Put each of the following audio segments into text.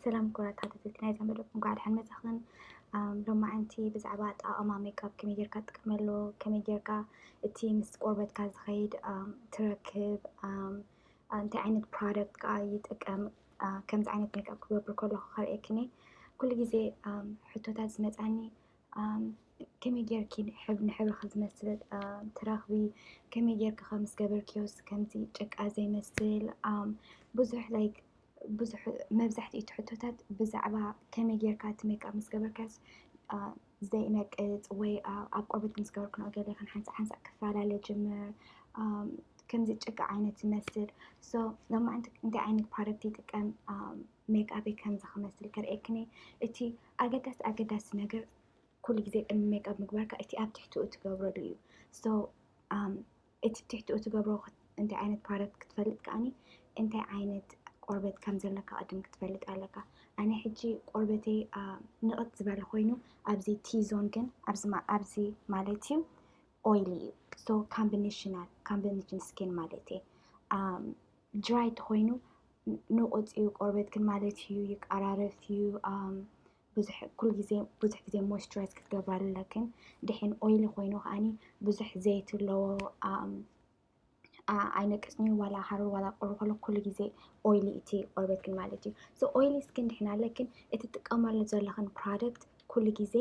ሰላም ክቡራት ተኸታተልቲ ናይዛ መደብ እንኳዕ ደሓን መጻኽን። ሎማዓንቲ ብዛዕባ ኣጠቓቕማ ሜክኣፕ ከመይ ጌርካ ትጥቀመሉ፣ ከመይ ጌርካ እቲ ምስ ቆርበትካ ዝኸይድ ትረክብ፣ እንታይ ዓይነት ፕሮዳክት ከዓ ይጥቀም፣ ከምዚ ዓይነት ሜክኣፕ ክገብር ከለኹ ከርእየክኒ ኩሉ ግዜ ሕቶታት ዝመፅኣኒ ከመይ ጌርኪ ንሕብርኺ ዝመስል ትረኽቢ፣ ከመይ ጌርኪ ከም ዝገበርክዮስ ከምዚ ጭቃ ዘይመስል ብዙሕ ላይክ ብዙሕ መብዛሕትኡ እቲ ሕቶታት ብዛዕባ ከመይ ጌርካ እቲ ሜክኣፕ ምስ ገበርካስ ዘይነቅፅ ወይ ኣብ ቆርበት ምስ ገበርክኖ ገለ ከም ሓንሳእ ሓንሳእ ክፈላለ ጅምር ከምዚ ጭቃ ዓይነት ዝመስል ሶ ሎማዓንቲ እንታይ ዓይነት ፕሮዳክት ይጥቀም ሜክኣበይ ከም ዝክመስል ከርእየክን እየ እቲ ኣገዳሲ ኣገዳሲ ነገር ኩሉ ግዜ ቅድሚ ሜክኣብ ምግባርካ እቲ ኣብ ትሕትኡ ትገብሮ ዶ እዩ ሶ እቲ ትሕትኡ ትገብሮ እንታይ ዓይነት ፕሮዳክት ክትፈልጥ ከኣኒ እንታይ ዓይነት ቆርበት ከም ዘለካ ቅድም ክትፈልጥ ኣለካ ኣነ ሕጂ ቆርበተይ ንቕት ዝበለ ኮይኑ ኣብዚ ቲዞን ግን ኣብዚ ማለት እዩ ኦይሊ እዩ ሶ ካምቢኔሽናል ካምቢኔሽን ስኪን ማለት እዩ ድራይ ተኮይኑ ንቁጽ እዩ ቆርበትክን ማለት እዩ ይቃራረፍ እዩ ብዙሕ ኩሉ ግዜ ብዙሕ ግዜ ሞይስቸራይዝ ክትገብራሉ ኣለክን ድሕን ኦይሊ ኮይኑ ከዓኒ ብዙሕ ዘይቲ ኣለዎ ኣይነቅጽን እዩ ዋላ ሃሩር ዋላ ቁሪ ከሎ ኩሉ ግዜ ኦይሊ እቲ ቆርበትክን ማለት እዩ ሶ ኦይሊ ስኪን ድሕን ኣለክን እቲ ትጥቀማሉ ዘለኽን ፕሮዳክት ኩሉ ግዜ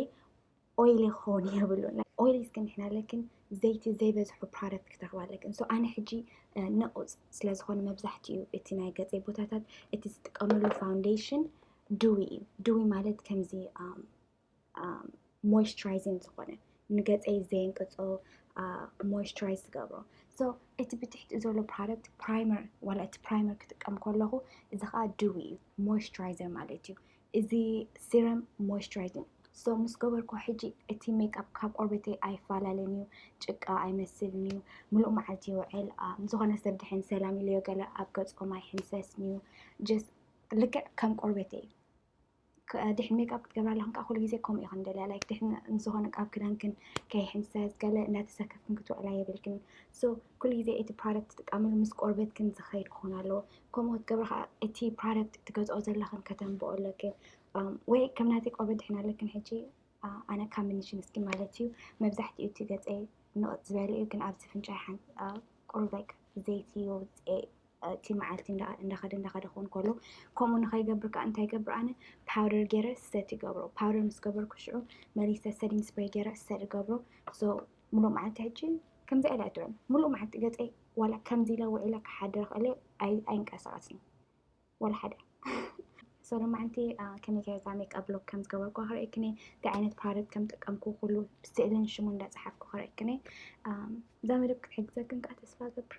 ኦይል ይኸውን የብሉን ኦይል እስከ ንሕና ለክን ዘይቲ ዘይበዝሑ ፕሮዳክት ክትረኽባ ኣለክን ሶ ኣነ ሕጂ ነቑፅ ስለ ዝኾነ መብዛሕትኡ እቲ ናይ ገፀይ ቦታታት እቲ ዝጥቀመሉ ፋውንዴሽን ድዊ እዩ ድዊ ማለት ከምዚ ሞይስቸራይዚን ዝኾነ ንገፀይ ዘየንቅፆ ሞይስቸራይዝ ዝገብሮ ሶ እቲ ብትሕቲ ዘሎ ፕሮዳክት ፕራይመር ዋላ እቲ ፕራይመር ክጥቀም ከለኹ እዚ ከዓ ድዊ እዩ ሞይስቸራይዘር ማለት እዩ እዚ ሲረም ሞይስቸራይዚንግ ሶ ምስ ገበርኩ ሕጂ እቲ ሜክኣፕ ካብ ቆርበተይ ኣይፈላለን እዩ፣ ጭቃ ኣይመስልን እዩ፣ ምሉእ መዓልቲ ይውዕል፣ ንዝኾነ ሰብ ድሕን ሰላም ኢለዮ ገለ ኣብ ገጾም ኣይሕንፈስን እዩ፣ ጀስት ልክዕ ከም ቆርበተይ እዩ። ድሕን ሜክኣፕ ክትገብራ ኣለኹም ከዓ ኩሉ ግዜ ከምኡ ኢኹን ደልያ ላይክ ድሕን ንዝኾነ ኣብ ክዳንክን ከይሕንፈስ ገለ እናተሰከፍክን ክትውዕላ የብልክን። ሶ ኩሉ ግዜ እቲ ፕሮዳክት ትጥቀምሉ ምስ ቆርበትክን ዝኸይድ ክኾን ኣለዎ። ከምኡ ክትገብሪ ከዓ እቲ ፕሮዳክት ትገዝኦ ዘለኽን ከተንብኦ ኣለክን ወይ ከም ናተይ ቆርበት ድሒን ኣለክን ሕጂ ኣነ ካብ ምንሽን ስኪን ማለት እዩ መብዛሕትኡ እቲ ገፀይ ንቕፅ ዝበለ እዩ ግን ኣብዚ ፍንጫይ ሓንቲ ቁሩብ ላይክ ዘይቲ ይወፅኤ እቲ መዓልቲ እንዳኸደ እንዳኸደ ክኸውን ከሎ ከምኡ ንኸይገብር ከዓ እንታይ ገብር ኣነ ፓውደር ገይረ ሰት ይገብሮ ፓውደር ምስ ገበርኩ ሽዑ መሊሰ ሰዲን ስፕሬይ ገይረ ሰት ይገብሮ ምሉእ መዓልቲ ሕጂ ከምዚኣ ኢለ ኣይትውዕል ምሉእ መዓልቲ ገፀይ ዋላ ከምዚ ኢለ ውዒለ ክሓድር ክእል ኣይንቀሳቀስን ዋላ ሓደ ሶሎ መዓልቲ ከመይ ከዛ ሜክኣፕ ሎክ ከም ዝገበርኩ ክርእክኒ እንታይ ዓይነት ፕሮደክት ከም ጠቀምኩ ኩሉ ስእልን ሽሙ እንዳፀሓፍኩ ክርእክኒ እዛ መደብ ክትሕግዘክን ከዓ ተስፋ ገብር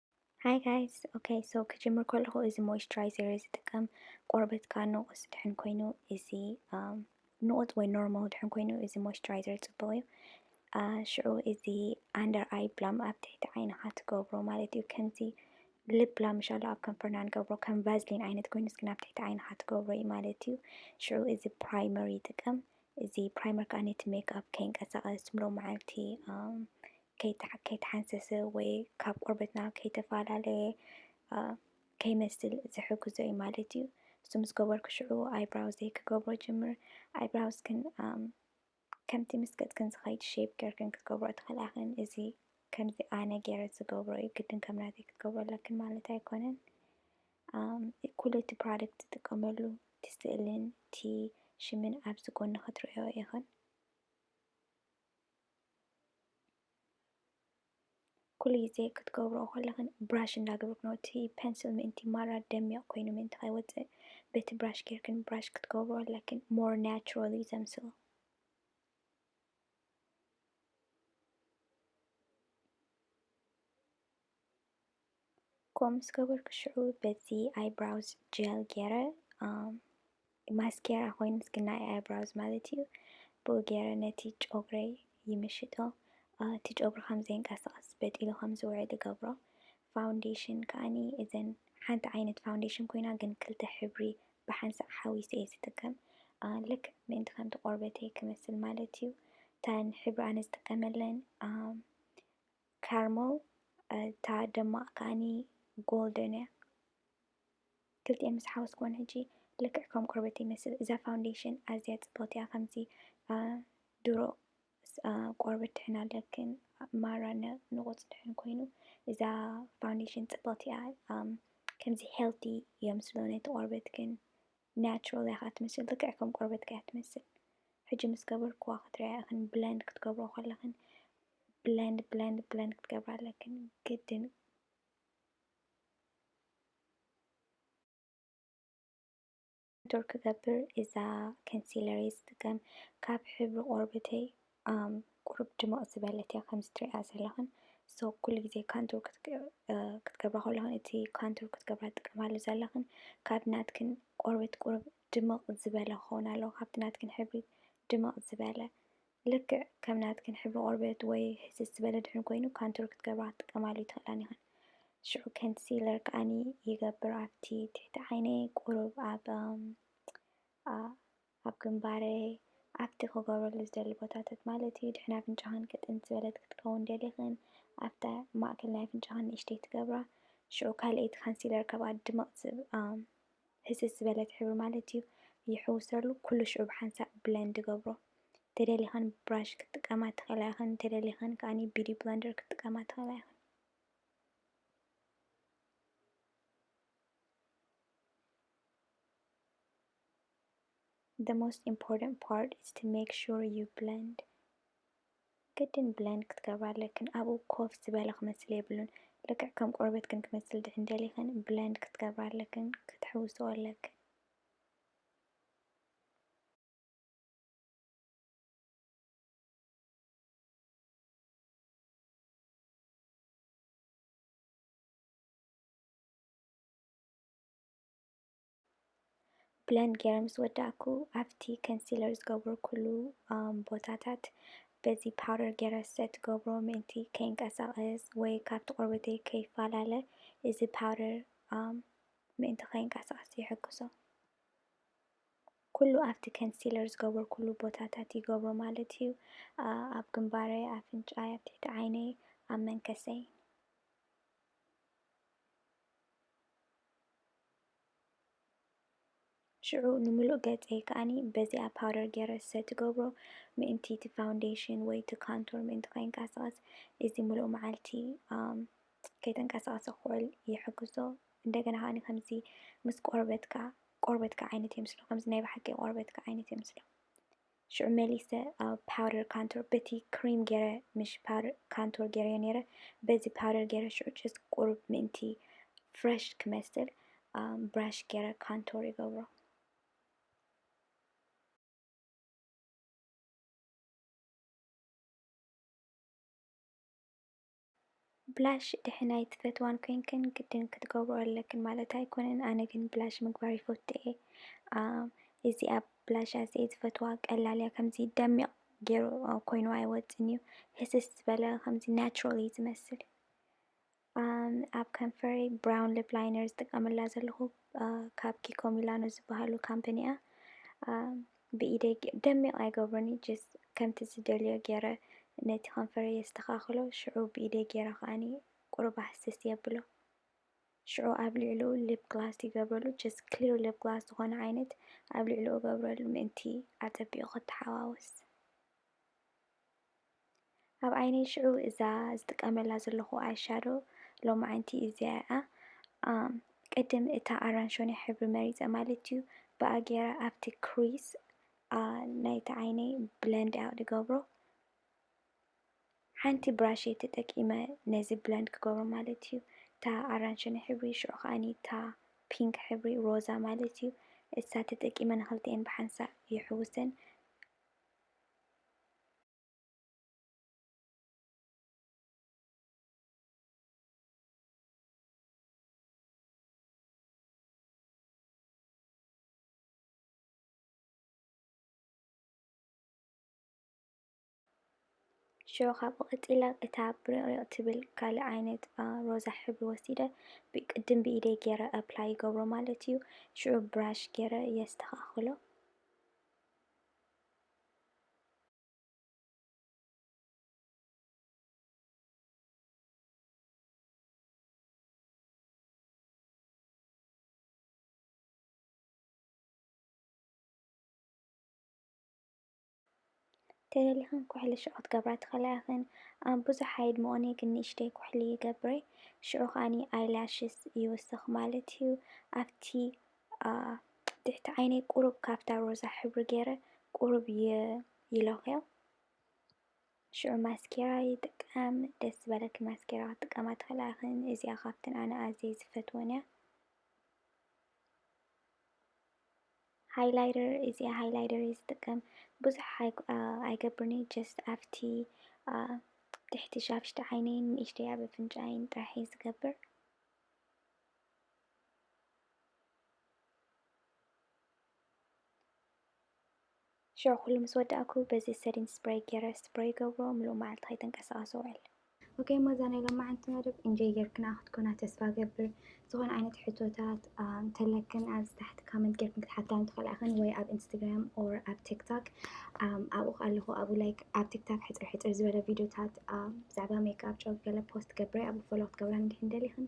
Hi guys okay so ክጅምር ከለኹ እዚ ሞይስቸራይዘር እየ ዝጥቀም ቆርበትካ ንቑስ ድሕን ኮይኑ እዚ ንቑፅ ወይ ኖርማል ድሕን ኮይኑ እዚ ሞይስቸራይዘር ፅቡቕ እዩ ሽዑ እዚ ኣንደር ኣይ ብላም ኣብ ትሕቲ ዓይንኻ ትገብሮ ማለት እዩ ከምዚ ልብ ብላም ሻላ ኣብ ከንፈርና ንገብሮ ከም ቫዝሊን ዓይነት ኮይኑ እስኪ ናብ ትሕቲ ዓይንኻ ትገብሮ እዩ ማለት እዩ ሽዑ እዚ ፕራይመር ይጥቀም እዚ ፕራይመር ከኣ ነቲ ሜክኣፕ ከይንቀሳቐስ ምሉእ መዓልቲ ከይተሓንሰሰ ወይ ካብ ቆርበትና ከይተፈላለየ ከይመስል ዝሕግዞ እዩ ማለት እዩ። እሱ ምስ ገበርኩ ሽዑ ኣይብራውዘይ ክገብሮ ጅምር። ኣይብራውስክን ከምቲ ምስ ገጽክን ዝኸይድ ሼፕ ጌርክን ክትገብሮ ትኽእላ ኢኽን። እዚ ከምዚ ኣነ ጌረ ዝገብሮ እዩ፣ ግድን ከም ናተይ ክትገብሮ ኣለክን ማለት ኣይኮነን። ኩሉ እቲ ፕራደክት ዝጥቀመሉ እቲ ስእልን እቲ ሽምን ኣብዚ ጎኒ ክትሪኦኦ ኢኽን። ኩሉ ግዜ ክትገብርኦ ከለኽን ብራሽ እንዳገበርክን እቲ ፐንስል ምእንቲ ማራ ደሚቕ ኮይኑ ምእንቲ ከይወጽእ በቲ ብራሽ ጌርክን ብራሽ ክትገብርኦ ኣለክን ሞር ናቹራል እዩ ዘምስሎ። ኮምኡ ምስ ገበርኩ ሽዑ በዚ ኣይብራውዝ ጀል ገይረ ማስኬራ ኮይኑ እስኪ ናይ ኣይብራውዝ ማለት እዩ ብኡ ገይረ ነቲ ጨጉረይ ይምሽጦ እቲ ጨጉሪ ከም ዘይንቀሳቐስ በጢሉ ከም ዝውዕል ይገብሮ ፋውንዴሽን ከዓኒ እዘን ሓንቲ ዓይነት ፋውንዴሽን ኮይና ግን ክልተ ሕብሪ ብሓንሳእ ሓዊሰ እየ ዝጥቀም ልክ ምእንቲ ከምቲ ቆርበተይ ክመስል ማለት እዩ እተን ሕብሪ ኣነ ዝጥቀመለን ካርሞል እታ ደማቅ ከኣኒ ጎልደን እያ ክልቲኤን ምስ ሓወስክወን ሕጂ ልክዕ ከም ቆርበተይ ይመስል እዛ ፋውንዴሽን ኣዝያ ጽብቅቲ እያ ከምዚ ድሮ ቆርበት ድሕን ኣለክን ማራ ንቁጽ ድሕን ኮይኑ እዛ ፋውንዴሽን ጽብቅቲ እያ ከምዚ ሄልቲ እዮም ስለሆነ እቲ ቆርበትክን ናቹራል እያ ክትመስል ልክዕ ከም ቆርበትኪ እያ ትመስል ሕጂ ምስ ገበርክዋ ክትሪኣ ኢኽን ብለንድ ክትገብርኦ ከለኽን ብለንድ ብለንድ ብለንድ ክትገብራ ኣለክን ግድን ዶር ክገብር እዛ ከንሲለረይ ዝጥቀም ካብ ሕብሪ ቆርበተይ ኣም ቁሩብ ድምቕ ዝበለት እያ ከምዚ ትሪእያ ዘለኽን ሶ ኩሉ ግዜ ካንቱር ክትገብራ ከለኽን እቲ ካንቱር ክትገብራ ትጥቀማሉ ዘለኽን ካብ ናትክን ቆርበት ቁሩብ ድምቕ ዝበለ ክኸውን ኣለዎ ካብቲ ናትክን ሕብሪ ድምቕ ዝበለ ልክዕ ከም ናትክን ሕብሪ ቆርበት ወይ ህስስ ዝበለ ድሕን ኮይኑ ካንቱር ክትገብራ ክትጥቀማሉ ይትኽእላን ይኽን ሽዑ ከንሲለር ከዓኒ ይገብር ኣብቲ ትሕቲ ዓይነይ ቁሩብ ኣብ ኣብ ግንባረይ፣ ኣብቲ ክገብረሉ ዝደሊ ቦታታት ማለት እዩ፣ ድሕን ኣፍንጫኽን ክጥን ዝበለት ክትከውን ደሊኽን፣ ኣብታ ማእከል ናይ ኣፍንጫኽን ንእሽተይ ትገብራ፣ ሽዑ ካልኣይቲ ካንሲለር ከብኣ ድምቕ ዝብኣ፣ ህስስ ዝበለት ሕብሪ ማለት እዩ፣ ይሕውሰሉ፣ ኩሉ ሽዑ ብሓንሳእ ብለንድ እገብሮ። እንተደሊኽን ብብራሽ ክትጥቀማ ትኽእላ ኢኽን፣ እንተደሊኽን ከኣ ቢዩቲ ብለንደር ክትጥቀማ ትኽእላ ኢኽን። the most important part is to make sure you blend ግድን ብለንድ ክትገብራ ኣለክን ኣብኡ ኮፍ ዝበለ ክመስል የብሉን ልክዕ ከም ቆርበትክን ክመስል ድሕን ደሊኽን ብለንድ ክትገብራ ኣለክን ክትሕውስኦ ኣለክን ብለንድ ገይረ ምስ ወዳእኩ ኣብቲ ከንሲለር ዝገብርኩሉ ቦታታት በዚ ፓውደር ገይረ ሰት ገብሮ ምእንቲ ከይንቀሳቐስ ወይ ካብቲ ቆርበተይ ከይፈላለ እዚ ፓውደር ምእንቲ ከይንቀሳቐስ ይሕግዞ። ኩሉ ኣብቲ ከንሲለር ዝገበርኩሉ ቦታታት ይገብሮ ማለት እዩ ኣብ ግንባረይ ኣፍንጫይ ኣብ ትሕቲ ዓይነይ ኣብ መንከሰይ ሽዑ ንምሉእ ገጸይ ከኣኒ በዚኣ ፓውደር ጌረ ዝሰቲ ትገብሮ ምእንቲ እቲ ፋውንዴሽን ወይ እቲ ካንቶር ምእንቲ ከይንቀሳቐስ እዚ ምሉእ መዓልቲ ከይተንቀሳቐሰ ክውዕል ይሕግዞ። እንደገና ከኣኒ ከምዚ ምስ ቆርበትካ ቆርበትካ ዓይነት የምስሎ ከምዚ ናይ ብሓቂ ቆርበትካ ዓይነት የምስሎ። ሽዑ መሊሰ ኣብ ፓውደር ካንቶር በቲ ክሪም ጌረ ምሽ ፓውደር ካንቶር ጌረዮ ኔረ በዚ ፓውደር ጌረ ሽዑ ጭስ ቁሩብ ምእንቲ ፍረሽ ክመስል ብራሽ ጌረ ካንቶር ይገብሮ። ብላሽ ድሕን ኣይትፈትዋን ኮይንክን ግድን ክትገብሮ ኣለክን ማለት ኣይኮነን ኣነ ግን ብላሽ ምግባር ይፈቱ እየ እዚኣ ብላሽ ኣዝየ ዝፈትዋ ቀላል እያ ከምዚ ደሚቕ ገይሩ ኮይኑ ኣይወፅን እዩ ህስስ ዝበለ ከምዚ ናቹራል እዩ ዝመስል ኣብ ከንፈሪ ብራውን ሊፕ ላይነር ዝጥቀመላ ዘለኹ ካብ ኪኮ ሚላኖ ዝበሃሉ ካምፓኒ እያ ብኢደይ ደሚቕ ኣይገብሮን እዩ just ከምቲ ዝደልዮ ጌረ ነቲ ከንፈረይ የስተኻኽሎ ሽዑ ብኢደይ ጌረ ከኣ ቁሩብ ኣህስስ የብሎ ሽዑ ኣብ ልዕልኡ lip gloss ይገብረሉ just clear lip gloss ዝኾነ ዓይነት ኣብ ልዕልኡ እገብረሉ ምእንቲ ኣጸቢቑ ክተሓዋወስ። ኣብ ዓይነይ ሽዑ እዛ ዝጥቀመላ ዘለኹ ኣይ ሻዶ ሎሚ ዓይንቲ እዚኣ እያ ቅድም እታ ኣራንሾኒ ሕብሪ መሪፀ ማለት እዩ ብኣ ገይረ ኣብቲ ክሪስ ናይቲ ዓይነይ ብለንድ እያ ዝገብሮ ሓንቲ ብራሽ ተጠቂመ ነዚ ብለንድ ክገብሮ ማለት እዩ እታ ኣራንሾኒ ሕብሪ ሽዑ ከዓኒ እታ ፒንክ ሕብሪ ሮዛ ማለት እዩ እሳ ተጠቂመ ንክልቲኤን ብሓንሳእ ይሕውሰን ሸው ካብኡ ቀጺለ እታ ብሪቕሪቕ ትብል ካልእ ዓይነት ኣ፣ ሮዛ ሕብሪ ወሲደ ብ ቅድም ብኢደይ ጌረ ኣፕላይ ይገብሮ ማለት እዩ ሽዑ ብራሽ ጌረ የስተኻኽሎ። ተደሊኽን ኩሕሊ ሽዑ ክትገብራ ትኽእላ ኢኽን። ኣብ ብዙሕ ኣይድምኦን'የ ግን ንእሽተይ ኩሕሊ ይገብር'የ ሽዑ ከኣ ኣይ ላሽስ ይውስኽ ማለት'ዩ ኣብቲ ኣኣ ትሕቲ ዓይነይ ቁሩብ ካብታ ሮዛ ሕብሪ ጌረ ቁሩብ ይለኽዮ ሽዑ ማስኬራ ይጥቀም ደስ ዝበለኪ ማስኬራ ክትጥቀማ ትኽእላ ኢኽን እዚኣ ካብተን ኣነ ኣዝየ ዝፈትወን እያ ሃይላይደር እዚኣ ሃይላይደር እየ ዝጥቀም ብዙሕ ኣይገብርን እየ ጀስት ኣብቲ ትሕቲ ሻፍሽቲ ዓይነይን ንእሽተይ ኣብ ኣፍንጫይን ጥራሕ እየ ዝገብር ሽዑ ኩሉ ምስ ወዳእኩ በዚ ሰዲን ስፕረይ ጌረ ስፕረይ ይገብሮ ምሉእ መዓልቲ ከይተንቀሳቐሰ እውዕል። ኦኬ እሞ እዛ ናይ ሎማዓንቲ መደብ ኢንጆይ ጌርክንኣ ክትኮና ተስፋ እገብር። ዝኾነ ዓይነት ሕቶታት እንተለክን ኣብዚ ታሕቲ ካመንት ጌርክን ክትሓታኒ ትኽእላ ኢኽን ወይ ኣብ ኢንስታግራም ኦር ኣብ ቲክቶክ ኣብኡ ኣለኹ ኣብኡ ላይክ ኣብ ቲክቶክ ሕፅር ሕፅር ዝበለ ቪድዮታት ብዛዕባ ሜክኣፕ ጨው ገለ ፖስት ገብረ ኣብኡ ፎሎ ክትገብራኒ እንድሕን ደሊኽን